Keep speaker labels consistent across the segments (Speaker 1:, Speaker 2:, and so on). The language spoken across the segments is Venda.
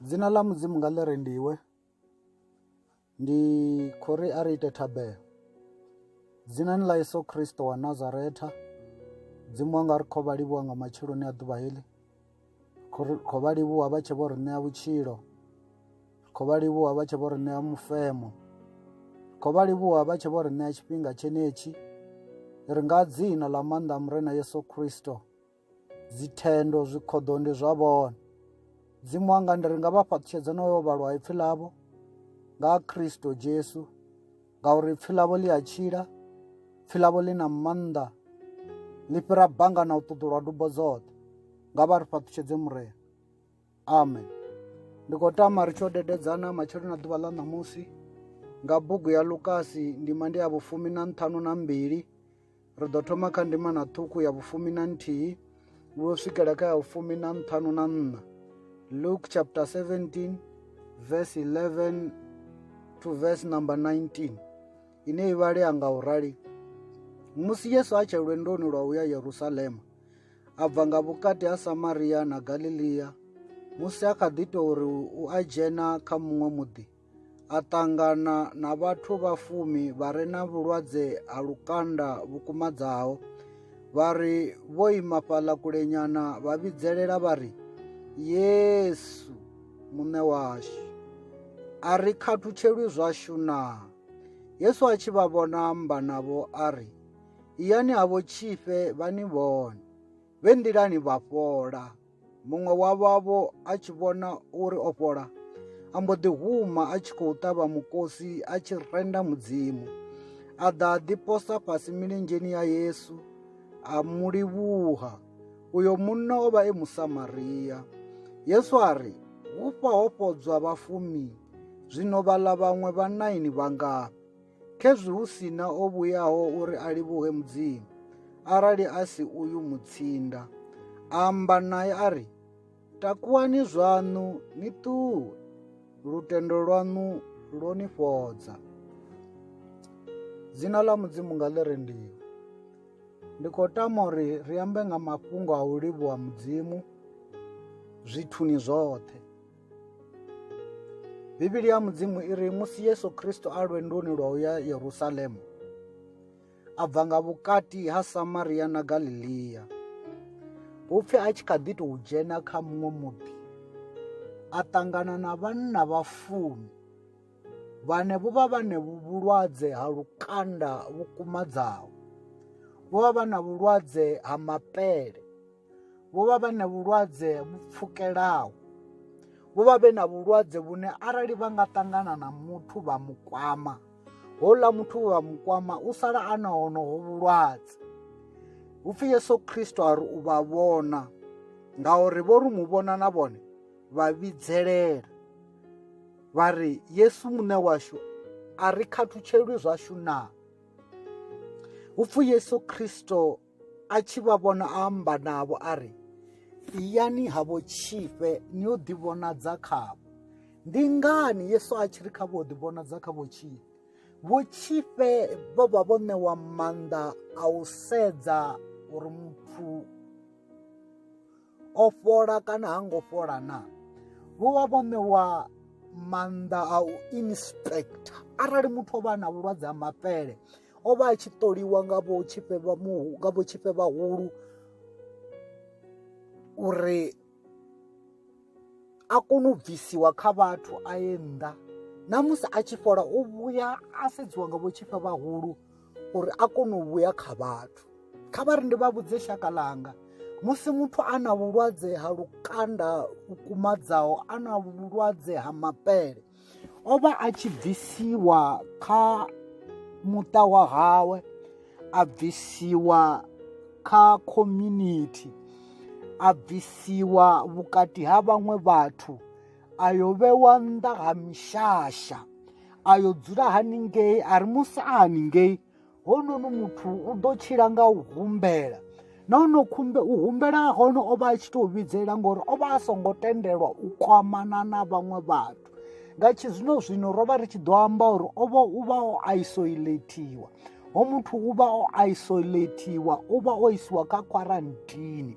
Speaker 1: dzina ḽa mudzimu nga ḽi rendiwe ndi khou ri a ri ite thabelo dzinani ḽa yesu kristo wa nazaretha dzimu wanga ri khou vha livhuwa nga matsheloni a ḓuvha heḽi khou vha livhuwa vha tshe vho ri ṋea vhutshilo ri khou vha livhuwa vha tshe vho ri ṋea mufemo ri khou vha livhuwa vha tshe vho ri ṋea tshifhinga tshenetshi ri nga dzina ḽa maanḓa a murena yesu kristo dzithendo zwikhoḓo ndi zwa vhone dzimu wanga ndi ri nga vha fhaṱutshedza no yo vhalwa ipfhi ḽavho nga kristo jesu ngauri ipfhi ḽavho ḽi a tshila ipfhi ḽavho ḽi na maanḓa ḽi fhira banga na u ṱuḓulwa dubo dzoṱhe nga vha ri fhaṱutshedze murena amen ndi khou tama ri tsho dededzana matsheloni a ḓuvha ḽa ṋamusi nga bugu ya lukasi ndima ndi ya vhufumi na nṱhanu na mbili ri ḓo thoma kha ndima na ṱhukhu ya vhufumi na nthihi vho swikela kha ya vhufumi na nṱhanu na nṋa luke chapter 17 verse 11 to verse number 19 ine i vhalea nga u rali musi yesu a tshe lwendoni lwa u ya yerusalema a bva nga vhukati ha Samaria na Galilia musi a kha ḓi tou uri u a dzhena kha muṅwe muḓi a ṱangana na vhathu vha fumi vha re na vhulwadze ha lukanda vhukumadzaho vha ri vho ima fhaḽa kulenyana vha vhidzelela vha ri yesu muṋe washu a ri khathutshelwi zwashu naa yesu a tshi vha vhona amba navho a ri Iyani ha vhotshifhe vha ni vhone. Vhe nḓilani vha fhola. Muṅwe wa vhavho a tshi vhona uri o fhola, a mbo ḓi huma a tshi khou ṱavha mukosi a tshi renda Mudzimu. A ḓa a ḓi posa fhasi milenzheni ya Yesu a mu livhuha. Uyo munna o vha e Musamaria. Yesu a ri, Hufha ho fhodzwa vhafumi, zwino vhaḽa vhaṅwe vha naini vha ngafhi? Khezwi hu si na o vhuyaho uri a livhuhe Mudzimu, arali a si uyu mutsinda. Amba naye a ri, Takuwani zwaṋu ni ṱuwe, lutendo lwaṋu lwo ni fhodza. Dzina ḽa Mudzimu nga ḽi rendiwe. Ndi khou tama uri ri ambe nga mafhungo a u livhuwa Mudzimu zwithuni zwoṱhe. Bivhili ya Mudzimu i ri musi Yesu Kristo a lwendoni lwa u ya Yerusalemu, a bva nga vhukati ha Samaria na Galilea. Hupfi a tshi kha ḓi tou dzhena kha muṅwe muḓi, a ṱangana na vhanna vha fumi vhane vho vha vhane vhulwadze ha lukanda vhu kumadzaho. Vho vha vha na vhulwadze ha mapele. vho vha vhe na vhulwadze vhu pfukelaho vho vha vhe na vhulwadze vhune arali vha nga ṱangana na muthu vha mu kwama houḽa muthu vha mu kwama u sala a na honoho vhulwadze hu pfhi yesu khristo a ri u vha vhona ngauri vho ri mu vhona na vhone vha vhidzelela vha ri yesu muṋe washu a ri khathutshelwi zwashu naa hu pfhi yesu khristo a tshi vha vhona a amba navho a ri iyani havho tshifhe ni yo ḓivhonadza khavho ndi ngani yesu a tshi ri kha vho ḓivhonadza kha vho tshifhe vho tshifhe vho vha vho ṋewa maanḓa a u sedza uri muthu o fhola kana ha ngo fhola na vho vha vho ṋewa maanḓa a u inspector arali muthu o vha na vhulwadze ha mapele o vha a tshi ṱoliwa nga vho tshifhe vha muhu nga vho tshifhe vhahulu uri a kone u bvisiwa kha vhathu a ye nnḓa na musi a tshi fhola u vhuya a sedziwa nga vho tshifhe vhahulu uri a kone u vhuya kha vhathu kha vha ri ndi vha vhudze shaka ḽanga musi muthu a na vhulwadze ha lukanda vhukumadzaho a na vhulwadze ha mapele o vha a tshi bvisiwa kha muṱa wa hawe a bvisiwa kha community a bvisiwa vhukati ha vhaṅwe vhathu a yo vhewa nnḓa ha mishasha a yo dzula haningei a ri musi a haningei honono muthu u ḓo tshila nga u humbela na ono khumbe u humbela hone o vha a tshi tou vhidzela ngori o vha a songo tendelwa u kwamana na vhaṅwe vhathu nga tshi zwino zwino ro vha ri tshi ḓo amba uri o vha u vha o isolatiwa ho muthu u vha o isolatiwa u vha o isiwa kha kwarantini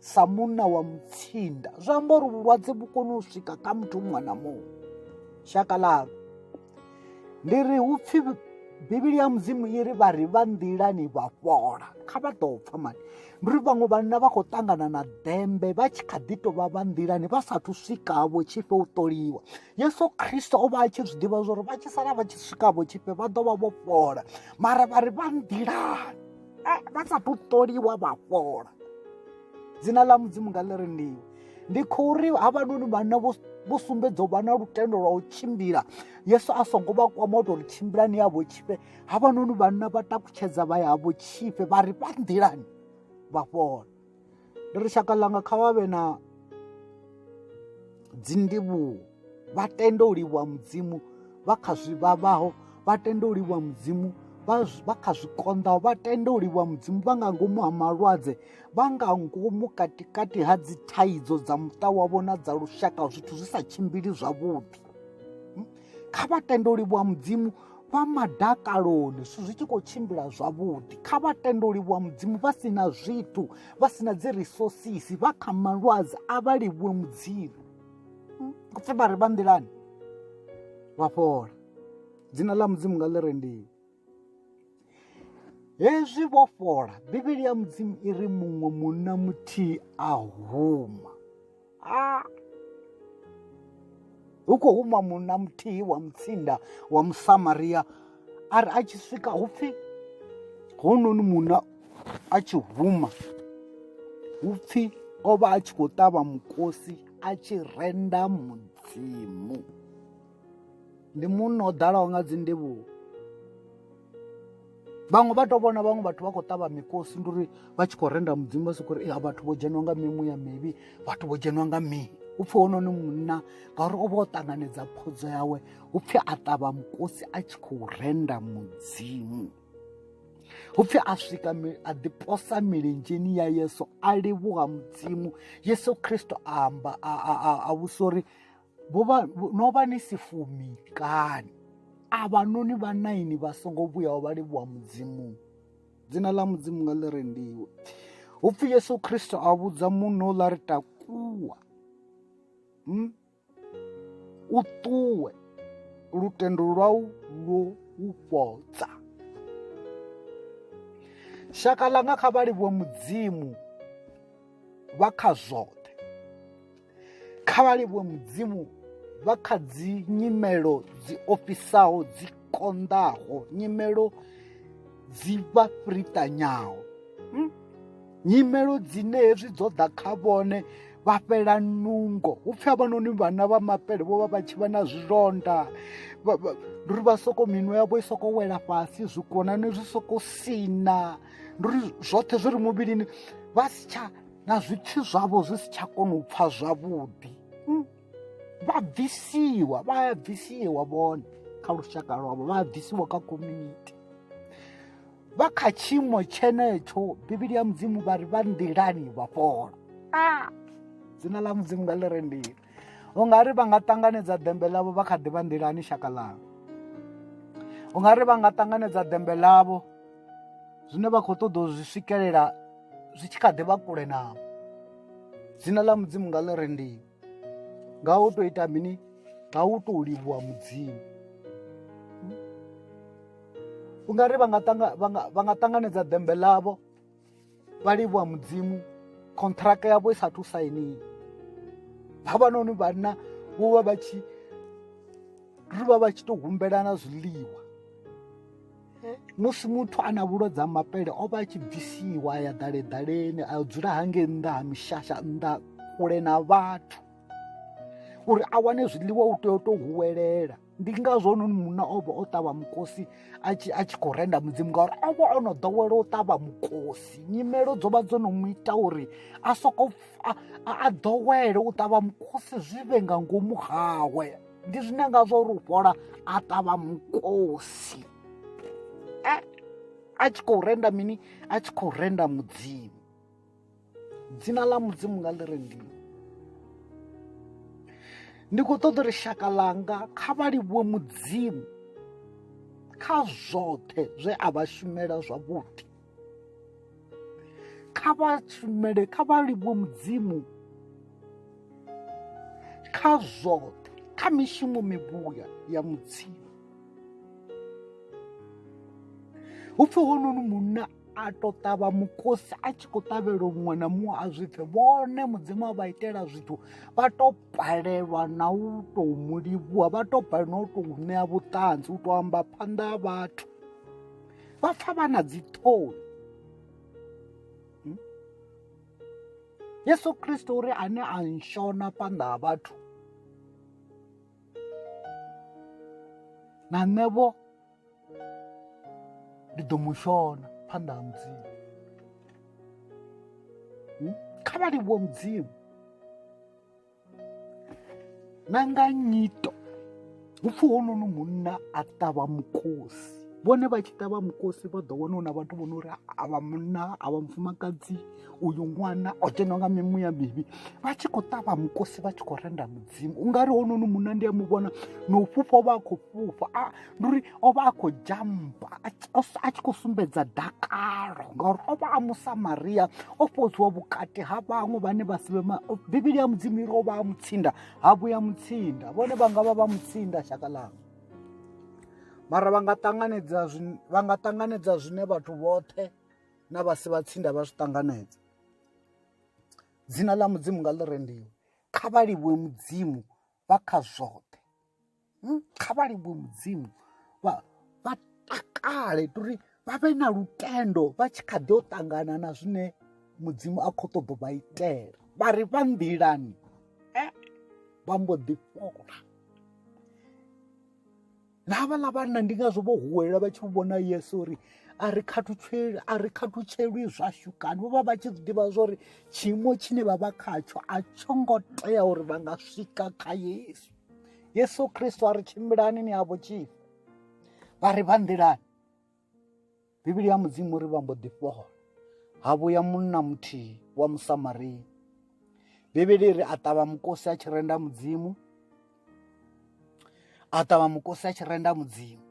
Speaker 1: sa munna wa mutsinda zwi amba uri vhulwadze vhu kone u swika kha muthu muṅwe na muṅwe shaka ḽalo ndi ri hu pfhi bivhili ya mudzimu i ri vha ri vha nḓilani vha fhola kha vha ḓo pfha mani ndi ri vhaṅwe vhanna vha khou ṱangana na ḓembe vha tshi kha ḓi tou vha vha nḓilani vha sathu swikavho tshifhe u ṱoliwa yesu khristo o vha a tshi zwi ḓivha zwa uri vha tshi sala vha tshi swikavho tshifhe vha ḓo vha vho fhola mara vha ri vha nḓilani eh, vha sa thu ṱoliwa vha fhola dzina ḽa mudzimu nga ḽi rendiwe ndi khou ri havhanoni vhana vho sumbedza u vha na lutendo lwa u tshimbila yesu a songo vha kwama u tori tshimbilani yavho tshifhe havhanoni vhanna vha takutshedza vha yavho tshifhe vha ri vha nḓilani vha fhola ndi ri shaka ḽanga kha vha vhe na dzindivhuwo vha tende u livhuwa mudzimu vha kha zwi vhavhaho vha tende u livhuwa mudzimu vha kha zwikonḓaho vha tende u livhuwa mudzimu vha nga ngomu ha malwadze vha nga ngomu katikati ha dzithaidzo dza muṱa wavho na dza lushaka zwithu zwi sa tshimbili zwavhuḓi kha vhatendoli vha mudzimu vha madakaloni zwithu zwi tshi khou tshimbila zwavhuḓi kha vhatendoli vha mudzimu vha si na zwithu vha si na dzi risosisi vha kha malwadze a vha livhuwe mudzimu pfe vha ri vha nḓilani vha fhola dzina ḽa mudzimu nga ḽi rendiwe hezwi vho fhola bivhili ya mudzimu i ri muṅwe munna muthihi a huma a hu khou huma munna muthihi wa mutsinda wa musamaria a ri a tshi swika hu pfhi hononi munna a tshi huma hu pfhi o vha a tshi khou ṱavha mukosi a tshi renda mudzimu ndi munna o ḓalaho nga dzi ndivhuwo vhaṅwe vha to vhona vhaṅwe vhathu vha khou ṱavha mikosi ndi uri vha tshi khou renda mudzimu vha soko uri a vhathu vho dzheniwa nga mimuya mivhi vhathu vho dzheniwa nga mii u pfhi hononi munna ngauri o vha o ṱanganedza phodzo yawe u pfhi a ṱavha mukosi a tshi khou renda mudzimu upfi a swika a ḓiposa milenzheni ya yesu a livhuha mudzimu yesu kristo a amba a vhusa uri vho vha no vha ni si fumi kani avha noni vha naini vha songo vhuyaho vha livhuwa mudzimu dzina ḽa mudzimu nga ḽi rendiwe hu pfhi yesu khristo a vhudza muno ḽa ri takuwa hmm? u ṱuwe lutendo lwau lwo u fhodza shaka ḽanga kha vha livhuwe mudzimu vha kha zwoṱhe kha vha livhuwe mudzimu vha kha dzi nyimelo dzi ofhisaho dzi konḓaho nyimelo dzi vha fritanyaho hmm? nyimelo dzine hezwi dzo ḓa kha vhone vha fhela nungo hu pfhi avhanoni vhana vha mapele vho vha vha tshi vha na zwilonda ndi uri vha soko minwe yavho i soko wela fhasi zwikonani zwi soko sina ndi uri zwoṱhe zwi ri muvhilini vha si tsha na zwipfi zwavho zwi si tsha kona u pfha zwavhuḓi hmm. vha bvisiwa vha ya bvisiwa vhone kha lushaka lwavho vha ya bvisiwa kha community vha kha tshiimo tshenetsho bivhili ya mudzimu vha ri vha nḓilani vha fhola a ah! dzina ḽa mudzimu nga ḽi rendile u nga ri va nga tanganedza dembe lavo va kha di va ndilani xaka lavo u nga ri va nga tanganedza dembe lavo zwine vha khou ṱoḓa u zwi swikelela zwi tshi kha ḓi vha kule navho dzina ḽa mudzimu nga ḽi rendiwa nga u tou ita mini nga u tou livhuwa mudzimu u nga ri vha nga tanganedza dembe ḽavho vha livhuwa mudzimu khontraka yavho i sa thu sainiwa havhanoni vhanna vho vha vha tshi ri vha vha tshi to humbelana zwiḽiwa musi muthu a na vhulwadze ha mapele o vha a tshi bvisiwa a ya ḓale ḓaleni a dzula hange nnḓa ha mishasha nnḓa kule na vhathu uri a wane zwiḽiwa u tea u to huwelela ndi ngazwo noni munna o vha o ṱavha mukosi a tshi a tshi khou renda mudzimu ngauri o vha o no ḓowela u ṱavha mukosi nyimelo dzo vha dzo no mu ita uri a soko a ḓowele u ṱavha mukosi zwi vhe nga ngomu hawe ndi zwine ngazwo uri u fhola a ṱavha mukosi a tshi khou renda mini a tshi khou renda mudzimu dzina ḽa mudzimu nga ḽi re ndimo ndi khou ṱoḓa uri shaka ḽanga kha vha livhuwe mudzimu kha zwoṱhe zwe a vha shumela zwavhuḓi kha vha shumele kha vha livhuwe mudzimu kha zwoṱhe kha mishumo mivhuya ya mudzimu hu pfhi hononi munna a to ṱavha mukosi a tshi khou ṱavhela muṅwe na muṅwe a zwi pfe vhone mudzimu a vha itela zwithu vha to balelwa na u tou mu livhuwa vha to balelwa na u tou ṋea vhuṱanzi u tou amba phanḓa ha vhathu vha pfa vha na dziṱhoni hmm? yesu kristo uri ane a nshona phanḓa ha vhathu na nṋevho ndi ḓo mu shona phanḓa ha mudzimu hmm? kha vha livhuwe mudzimu na nga nyito hu pfhi hononi munna a ṱavha mukosi vhone vha tshi ṱavha mukosi vha ḓo wana na vhathu vhono uri avha munna avha mufumakadzi uyu ṅwana o dzhenwa nga mimuya mivhi vha tshi khou ṱavha mukosi vha tshi khou renda mudzimu ungari hononi munna ndi a mu vhona no fhufha vha a khou fhufha ndi uri o vha a khou jampa a tshi khou sumbedza dakalo ngauri o vha a musamariya o fhodziwa vhukati ha vhaṅwe vhane vha si vhe bivhili ya mudzimu iri o vha a mutsinda ha vhuya mutsinda vhone vha nga vha vha mutsinda shaka ḽanga mara vha nga ṱanganedza vha nga ṱanganedza zwine vhathu vhoṱhe na vha si vha tsinda vha zwi ṱanganedza dzina ḽa mudzimu nga ḽi rendiwe kha vha livhuwe mudzimu vha kha zwoṱhe hmm, kha vha livhuwe mudzimu vha takale uri vha vhe na lutendo vha tshi kha ḓi o ṱangana na zwine mudzimu a khou ṱoḓo vha itela vha ri vha nḓilani eh, vha mbo ḓi fhola na havhaḽa vhanna ndi ngazwo vho huwelela vha tshi vhona yesu uri a ri khathutsheli a ri khathutshelwi zwashu kani vho vha vha tshi ḓivha zwa uri tshiimo tshine vha vha khatsho a tsho ngo tea uri vha nga swika kha yesu yesu kristo a ri tshimbilani ni havho tshifhi vha ri vha nḓilani bivhili ya mudzimu ri vha mbo ḓi fhola ha vhuya munna muthihi wa musamaria bivhili ri a ṱavha mukosi a tshi renda mudzimu a ṱavha mukosi a tshi renda mudzimu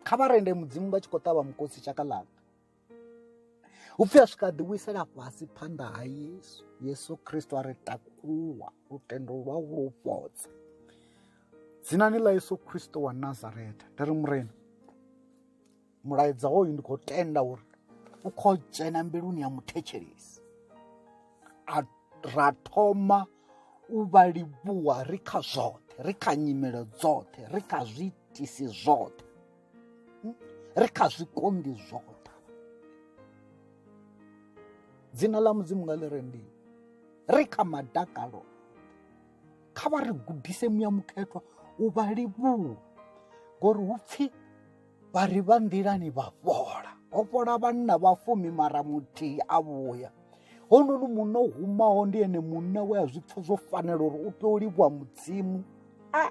Speaker 1: kha vha rende mudzimu vha tshi khou ṱavha mukosi tshaka ḽanga u pfhi a swika a ḓiwisela fhasi phanḓa ha yesu yesu kristo a ri takuwa lutendo lwa u lu fhodza dzinani ḽa yesu kristo wa nazareta ndi ri murena mulaedza hoyu ndi khou tenda uri u khou dzhena mbiluni ya muthetshelesi ra thoma u vha livhuwa ri kha zwoṱhe ri kha nyimelo dzoṱhe ri kha zwiitisi zwoṱhe hmm? ri kha zwikondi zwo ṱavha dzina ḽa mudzimu nga ḽi rendiwe ri kha madakalo kha vha ri gudise muya mukhethwa u vha livhuwa ngori hu pfhi vha ri vha nḓilani vha fhola ho fhola vhanna vha fumi mara muthihi a vhuya hononi munna o humaho ndi ene munna we a zwi pfha zwo fanela uri u tea u livhuwa mudzimu a